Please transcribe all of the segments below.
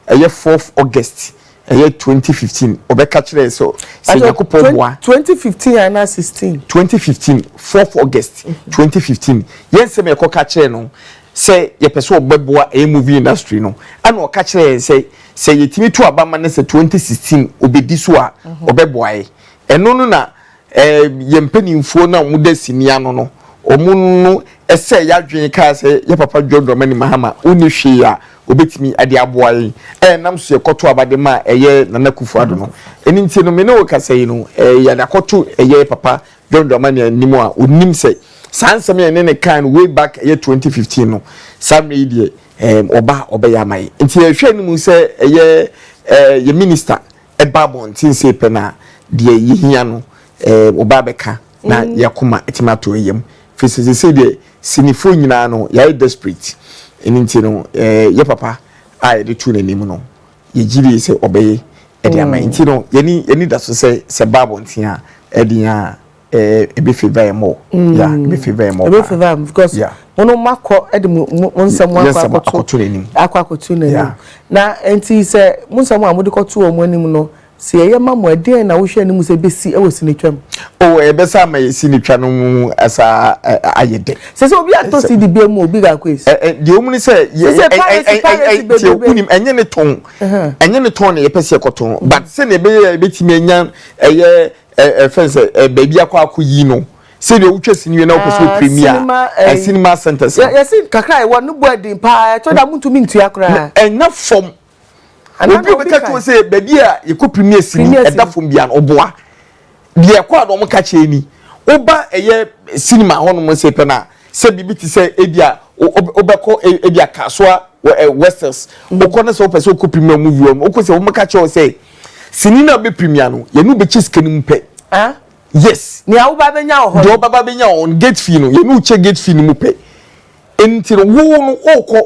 Ɛyɛ fourth August ɛyɛ twenty fifteen ɔbɛka kyerɛ yɛ sɛ sɛ Nyankopɔn boa. Twenty fifteen anaa sixteen. Twenty fifteen fourth August twenty fifteen yɛn nsɛm a yɛkɔ ka kyerɛ no sɛ yɛpɛ sɛ ɔbɛboa ɛyɛ movie industry no ɛna ɔka kyerɛ yɛn sɛ sɛ yɛtumi to aba ma no sɛ twenty sixteen ɔbɛdi so a ɔbɛboa yɛ ɛno no na Eh yɛn mpaninfoɔ no a wɔn da sini ano no wɔn no ɛsɛɛ yadwen kaa sɛ yɛ papa John Dramani Mahama ɔnni hwee a ɔbɛtumi de aboa yɛn eh nam so yɛkɔto aba de ma ɛyɛ Nana Akufo Addo no ɛno nti no me ne wo kasa yi no eh yɛde akɔto ɛyɛ papa John Dramani anim a ɔnim sɛ saa nsɛm yɛn ne ne kaa no way back ɛyɛ 2015 no saa mmerɛ yi deɛ eh ɔba ɔbɛyɛ ama yɛn nti yɛhwɛ anim sɛ ɛyɛ eh yɛ minister ɛba abɔnten sei pɛ na deɛ yɛhia no ɛɛ ɔba abɛka na mm. yɛakoma atumi ato yam firi sɛ sɛsei deɛ sinifoɔ nyinaa no yɛayɛ desperate ɛno nti no ɛɛ yɛ papa a yɛde to n'anim no yɛgye die sɛ ɔbɛyɛ ɛde ama mm. nti no yɛni yɛni da so sɛ sɛ ba abɔnten a ɛde a Eh, ebe favor him more. Mm. Yeah, ebe favor him more. Ebe favor him because yeah. Mono makɔ ɛde mo mo nsɛm akɔ akɔto n'anim. Akɔ akɔto n'anim. Na nti sɛ mo nsɛm a mo de kɔto wɔn anim no sɛ yɛyɛ ma mo ɛdeɛn na wohwɛ anim sɛ bɛsi ɛwɔ sinitwa mu. o ɛbɛsa ama yɛ sinitwa no mu ɛsa ayɛ dɛ. sɛ sɛ obi atɔ si di bia mu obi ga ko esi. ɛ ɛ deɛ omu ni sɛ yɛ ɛ ɛ ɛ ɛ tiɛ wunim ɛnyɛ ne tɔn ɛnyɛ ne tɔn na yɛ pɛ si ɛkɔ tɔn but sɛ na ebe yɛ ebe ti mi enya ɛyɛ. Ɛfɛn sɛ ɛyɛ baabi akɔ akɔyi no. Sɛdeɛ wotwa sini wie na wopɛ sɛ wo premier a, cinema centres no. Yɛse kakra a yɛwɔ no bɔ ɛden paa, ɛtɔ da montumi ntua koraa. Ɛnna fam. Obi a ɔbɛka kyerɛ wo sɛ baabi a yɛkɔ premier sini ɛda fam biara no, ɔboa. Deɛ ɛkɔ a na wɔka kyerɛ ni, woba ɛyɛ cinema hɔnom sei pɛ no a, sɛ biribi te sɛ ebia wobɛkɔ ebia Kasoa, Westels, wokɔ na sɛ wopɛ sɛ wokɔ premier movie hɔ no, wokɔ sei a, wɔbɛka kyerɛ wo sɛ. Sini no a bɛ premier no, yɛne wo bɛkyɛ sika no mu pɛ. Ah? Yes. Nea woba bɛnya wɔ hɔ no. Deɛ ɔbɛba bɛnya wɔ hɔ no, gate fee no, yɛne wo kyɛ gate fee no mu pɛ. Nti no, wo no, wokɔ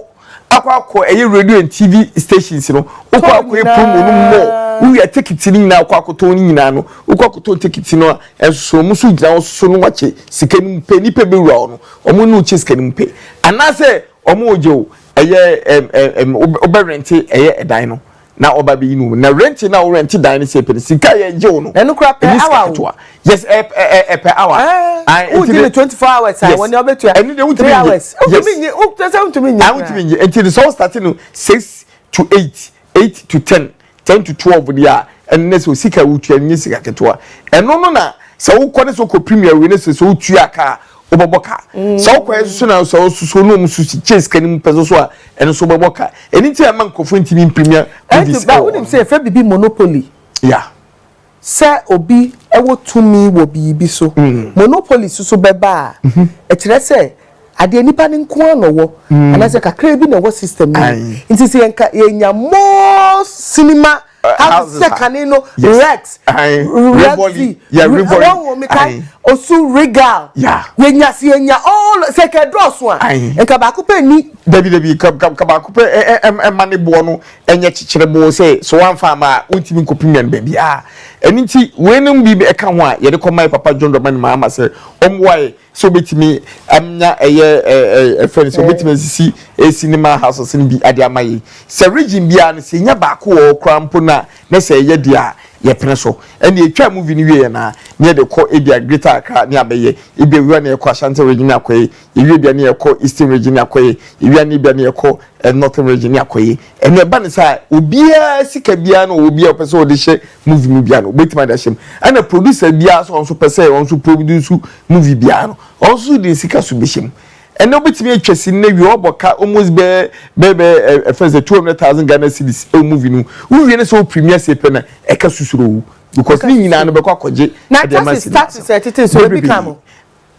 akɔ akɔ ɛyɛ radio and TV stations no, wokɔ akɔyɛ promo no mɔ, wowia tickets no nyinaa wokɔ akɔtɔn no nyinaa no, wokɔ akɔtɔn tickets no a, ɛnsoso wɔn nso gyina wo soso no wakyɛ sika no mu pɛ, nipa bɛwura hɔ no, wɔn ne wo kyɛ sika no mu pɛ. Anaasɛ wɔn regye wo ɛyɛ ɛm ɛm wobɛrente ɛyɛ ɛdan no. Na ɔba bɛyi no mu. Na rɛnti no a worɛnte dan no sɛpɛ no, sika a yɛgye wo no, ɛnyɛ sika ketewa. Yes, ɛyɛ per hour. Ae, nti de. Wogye no 24 hours a, wɔn deɛ wɔbɛtua. Ɛno deɛ wontumi nnye. Yes. Wontumi nnye, kyerɛ sɛ wontumi nnye koraa. Ae, wontumi nnye. Nti no sɛ wo starte no six to eight, eight to ten, ten to twelve deɛ a, ɛno ne sɛ wo sika a wotua no, ɛnyɛ sika ketewa. Ɛno no na sɛ wokɔ ne sɛ wokɔ premier wei ne sɛ sɛ wotua ka a, wobɛbɔ ka sɛ wokɔ yɛ soso na sɛ ɔsoso na ɔmu so kyɛ sika no mu pɛ soso a ɛno so wobɛbɔ ka ɛno nti ɛma nkurɔfoɔ ntumi mpiremia goodies ɛwɔ wonim sɛ ɛfɛ biribi monopoly ya sɛ obi ɛwɔ tumi wɔ biribi so mm. monopoly soso bɛba a mhm. ɛkyerɛ sɛ adeɛ nipa ne nko ara na ɔwɔ mm. anaasɛ kakra bi na ɛwɔ system no nti sɛ yɛnka yɛnya more cinema Hazesekani no Rex Rexy wɔn wɔ mi ka osu regal yenya si yenya all sɛ kɛ dɔɔso a nka baako pɛ ni. Dabi dabi ka ka ka baako pɛ ɛ ɛ ɛma ne boɔ no ɛnyɛ kyekyere boɔ sɛ so wanfa ama a wontumi nkɔpem yan baabi a ɛno nti wei nom bi ɛka ho a yɛde kɔ mae papa John Dramani Mahama sɛ ɔmmoa yɛ sɛ obetumi anya ɛyɛ ɛfɛ no sɛ obetumi asisi cinema houses no bi ade ama yɛn sɛ region biara no sɛ nya baako wɔ hɔ koraa mpo na na sɛ ɛyɛ deɛ a yɛpene so ɛne yɛtwa movie no wie yɛn a ne yɛde kɔ ebi a greater accra ne abɛyɛ ebi awia ne yɛkɔ ashanti region akɔyɛ ewie bia ne yɛkɔ eastern region ne akɔyɛ ewia ne bia ne yɛkɔ northern region ne akɔyɛ ɛne ɛba ne sɛ obiara sika biara no obiara ɔpɛ sɛ ɔde hyɛ movie mu biara no obetumi ada hyɛm ɛna producer biara sɛ ɔnso pɛ sɛ ɔnso produce movie biara no ɔnso de nsika so bɛhyɛ mu ɛna obetumi atwa si ne wie ɔbɔ ka almost bɛɛ bɛɛ bɛɛ ɛfɛ sɛ two hundred thousand Ghana cedis ɛwɔ movie no wowie ne sɛ o premier se pɛ na ɛka susuro o because ne nyinaa no bɛkɔ akɔgye ɛdeɛ ma sini na taxes taxes ɛtete nso ebi ka mo.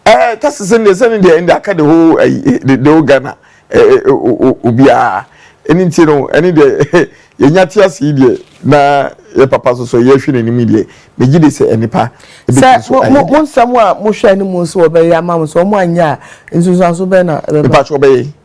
Eh, kasa sɛ deɛ sɛ ne deɛ ɛnde aka the whole ɛyi eh, the the whole Ghana eh, eh, eh, o- o- obiara ɛne nti no ɛne deɛ yɛnya te ase yi deɛ na yɛ papa so so yɛhwɛ n'anim yi deɛ megye de sɛ ɛnipa sɛ ɛbɛtumi so mo ayɛ mo mo deɛ nsɛm a mohwɛ no mu nso wɔbɛyɛ ama mo sɛ wɔn anyɛ a nsunsuanso bɛn na ɛbɛba mpakyɛ ɔbɛyɛ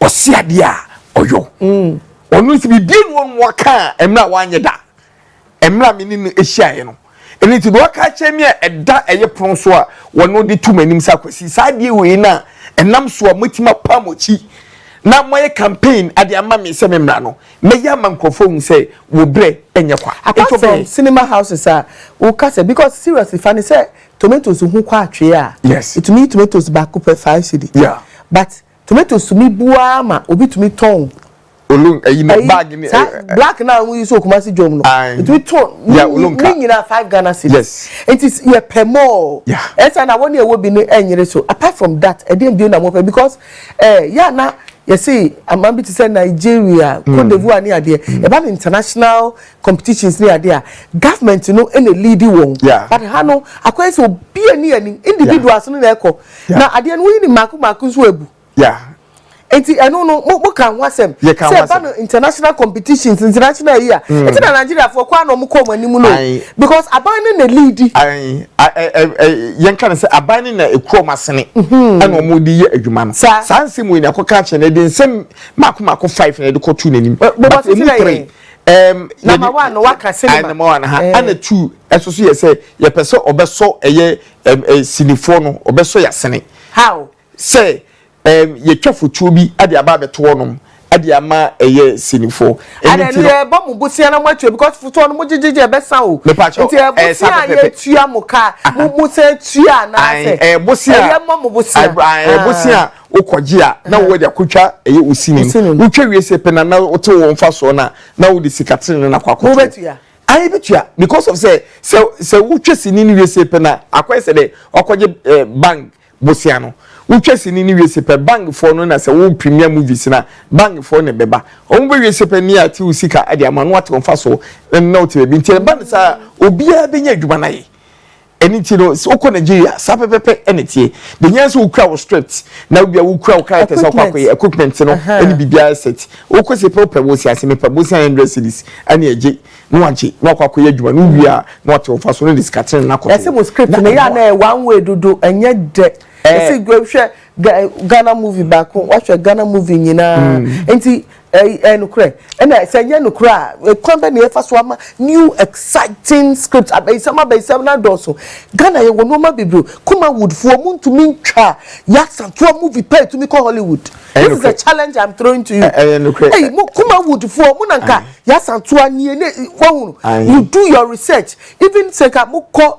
ɔsi adeɛ a ɔyɔ ɔno nso biribi enu ɔno ɔka a mmerɛ a wanyɛ da mmerɛ a me ne no ahyiaeɛ no ɛno nti deɛ ɔka akyerɛ me a ɛda ɛyɛ pono so a wɔno de to m'anim sɛ akwasi saa adeɛ wei no a ɛnam so a moatumi apa mo akyi na moayɛ campaign ade ama me sɛ me mmara no mɛyɛ ama nkurɔfoɔ hu sɛ wo berɛ ɛnyɛ kwa apart from cinema houses a woka sɛ because seriously fa ne sɛ tomatoes ho kɔ atwee a yes ɛtumi tomatoes baako pɛ five cedi yeah but Tomato sumi bu ara ma obi tumi tɔn. Olum ɛyi no bag ni. Saa black na ahu yi so Kumasi jom no. Otumi tɔn ne nyina five Ghana cedis. Nti yɛ pɛ more. Ɛsa na wɔne ɛwɔ bi no ɛnyere so. Apart from that ɛdeɛn bio na mo pɛ because ɛɛ yɛ a na yɛse aman bi te sɛ Nigeria, Cote d'Ivoire ne adeɛ ɛba no international competitions ne adeɛ a government no ɛna leadi wɔn but ha no akɔyɛ sɛ obiara ni anim individuals no na ɛkɔ. Yeah. Na adeɛ no woyi ne mmaako mmaako nso agu. Yeah. Nti ɛno no mo mo ka ho asɛm. Yɛ ka ho asɛm. Sɛ ɛba no international competitions international yi a. Mm. Nti na Nigeria fo kɔ anɔ mo kɔ ɔmo anim no. Because aban no na leadi. Ayi yɛn ka no sɛ aban no na ekuro ɔmo asene. Mhm. Ɛna ɔmo de yɛ adwuma no. Saa. Saa nsɛm wɔ nyina kɔ ka kyerɛ no de nsɛm mmaako mmaako five na ɛde kɔ tu n'anim. Bɔbɔ sisi na yɛ. Um, number one no waka cinema. Number one ha. Ɛna eh. two ɛsoso yɛ sɛ yɛpɛ sɛ ɔbɛsɔ ɛyɛ. ɛm ɛ sinifoɔ no wɔbɛsɔ yɛn asene. How? Sɛ ɛm yɛtwa fotuo bi de aba abɛto hɔnom de ama ɛyɛ sinifoɔ. Ɛno nti no. Ɛna yɛbɔ mo bosea na moatua because fotuo no mogyegye gye ɛbɛsa o. Mepa kyɛw ɛɛ saa pɛpɛpɛ. Nti ɛbosea a yɛtua mo ka mo mo san tua anaasɛ. Ae ɛɛ bosea. Ɛyɛ mmɔ mo bosea. Ae ɛɛ bosea a wokɔgye a na wowɔ de akɔtwa ɛyɛ osini no. Wotwa wie sɛ pɛ na na wote wo mfasoɔ no a na wode sika tenenee no akɔ akɔto. Mobetua. Ae betua because of sɛ sɛ sɛ wotwa sini no wie se pɛ na akɔyɛ sɛ dɛ wakɔgye eh, bank bosea no wotwa sini no wie se pɛ bank foɔ no na sɛ wo premier movies na bank foɔ na ɛbɛba wɔn bɛwie se pɛ ne ate wo sika de ama no wate wɔn fa so na na wote baabi nti ɛba no saa obiara bɛnya adwuma no ayɛ Ɛno nti no, sɛ wokɔ Nigeria a, saa pɛpɛpɛ na ɛteɛ. Deɛ hia sɛ wokura wo script na wobia wokura wo characters a wokɔ akɔyɛ, equipment no ne biribiara set. Wokɔ se pɛ wopɛ bosea se mepɛ bosea a hundred cedis ɛne agye na wagye na wakɔ akɔyɛ adwuma no wowie a na wate wo mfa so na ɔde sika tene no akɔto. Yɛse mo script no yɛ a na ɛyɛ one way dodo ɛnyɛ dɛ. Yɛse hwɛ Ghana movie baako wahwɛ Ghana movie nyinaa nti Ɛy, ɛyɛ nokorɛ? Ɛna sɛ ɛnyɛ nokorɛ a, kwan bɛn na yɛfa so ama new exciting script, abayisɛm abayisɛm no adɔɔso? Ghana yɛwɔ nnoɔma bebree o, Kumawood foɔ ɔmo ntumi ntwa Yaksa toɔ movie paa ɛtumi kɔ Hollywood. Ɛyɛ This is a nokorɛ? challenge I'm throwing to you. Ɛ, ɛyɛ nokorɛ? Ɛy, Ɛ, mo ɛ, Kumawood foɔ mo na nka ae. Yaksa toɔ a nie ne, wahunu? Ae. You do your research, even sɛ nka mokɔ.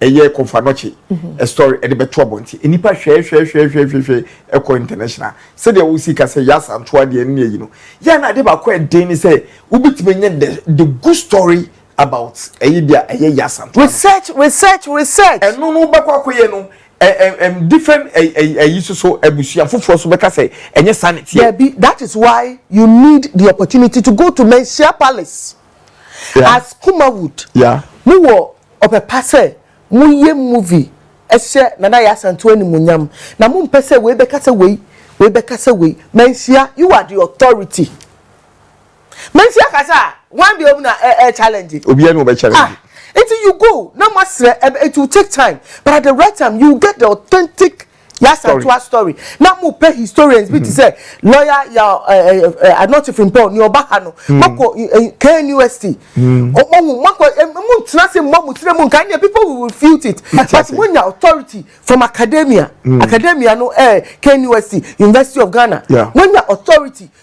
ɛyɛ kɔmfoanɔkye ɛsɔre ɛde bɛto abɔnten nnipa hwɛɛhwɛɛhwɛɛhwɛɛhwɛɛ ɛkɔ international sɛdeɛ wosi ka sɛ yasa nto adeɛ ne ayi no yɛ na adeɛ baako a ɛden ne sɛ wobɛtumi anya the the good story about ɛyɛ deɛ ɛyɛ yasa nto research research research ɛno no wobɛkɔ akɔyɛ no ɛm different ɛyi soso abusua foforɔ so bɛka sɛ ɛnyɛ saa ne teɛ dabi that is why you need the opportunity to go to Menhyia Palace yeah. as Kumawood yeah. mowɔ Ɔpɛ pa sɛ moyɛ movie hyɛ Nana Yaa Asantewaa animuonyam na mompɛ sɛ wei bɛka sɛ wei, wei bɛka sɛ wei. Manhyia, you are the authority. Manhyia ka sɛ ah, hwan biom na ɛ ɛ challenge? Obiara ni ɔbɛ challenge. Ah, nti you go na moasrɛ, it will take time but at the right time you will get the authentic Y'Asantewaa story na mo pɛ historians bi te sɛ lawyer ya Anokye Frimpong nea ɔba ha no mo kɔ KNUST ɔmo hu mo kɔ mo ntena ase mmɔ mo tiri mu nka nea people will refute it but mo nya authority from academia academia no ɛɛ KNUST University of Ghana mo nya authority.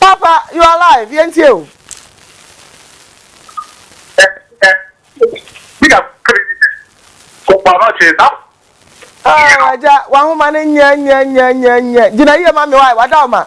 Papa you are live yɛn tie o. Agya wahoma no nyɛ nyɛ nyɛ nyɛ nyɛ gyina yie ma mi wa wada ɔma.